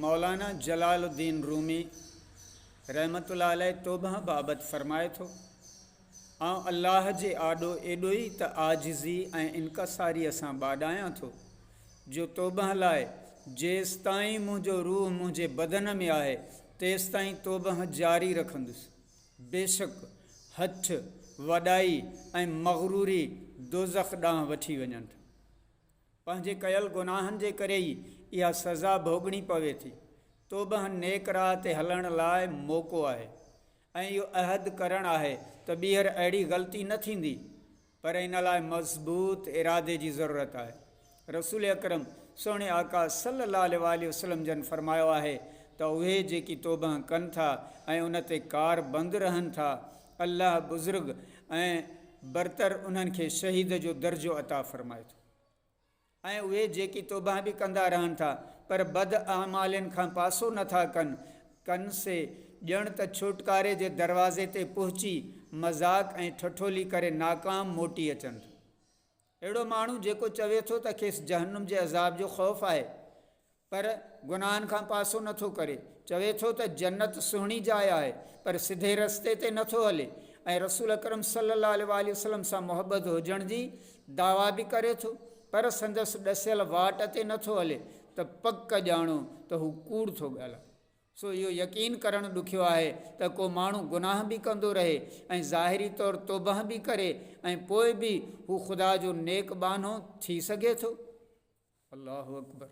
مولانا جلال الدين رومي رحمة الله عليه توبه بابت فرمائي ٿو، آئون الله جي آڏو ايڏو ئي ته عاجزي ۽ انڪساريء سان ٻاڏايان ٿو، جو توبه لاء جيستائين منهنجو روح منهنجي بدن ۾ آهي، تيستائين توبه جاري رکندس. بيشڪ هٺ، وڏائي ۽ مغروري دوزخ ڏانهن وٺي وڃن ٿا. پنهنجي ڪيل گناهن جي ڪري ئي اها سزا ڀوڳڻي پوي ٿي. توبهه نيڪ راهه تي هلڻ لاء موقعو آهي ۽ اهو عهد ڪرڻ آهي ته ٻيهر اهڙي غلطي نه ٿيندي پر ان لاء مضبوط ارادي جي ضرورت آهي. رسول اڪرم سهڻي آقا صلي الله عليه واٰله وسلم جن فرمايو آهي ته اهي جيڪي توبهه ڪن ٿا ۽ ان تي ڪاربند رهن ٿا الله بزرگ ۽ برتر انهن کي شهيد جو درجو عطا فرمائي ٿو ۽ اهي جيڪي توبهان به ڪندا رهن ٿا پر بد اعمالين کان پاسو نه ٿا ڪن ڪن سي ڄڻ ته ڇوٽڪاري جي دروازي تي پهچي مذاق ۽ ٺٺولي ڪري ناڪام موٽي اچن ٿا. اهڙو ماڻهو جيڪو چوي ٿو ته کيس جهنم جي عذاب جو خوف آهي پر گناهن کان پاسو نه ٿو ڪري، چوي ٿو ته جنت سهڻي جاء آهي پر سڌي رستي تي نه ٿو هلي ۽ رسول اڪرم صلي الله عليه واٰله وسلم سان محبت هجڻ جي دعويٰ به ڪري ٿو پر سندس ڏسيل واٽ تي نه ٿو هلي ته پڪ ڄاڻو ته هو ڪوڙ ٿو ڳالهائي. سو اهو يقين ڪرڻ ڏکيو آهي ته ڪو ماڻهو گناهه به ڪندو رهي ۽ ظاهري طور توبهه به ڪري ۽ پوء به هو خدا جو نيڪ ٻانهو ٿي سگهي ٿو. الله اڪبر.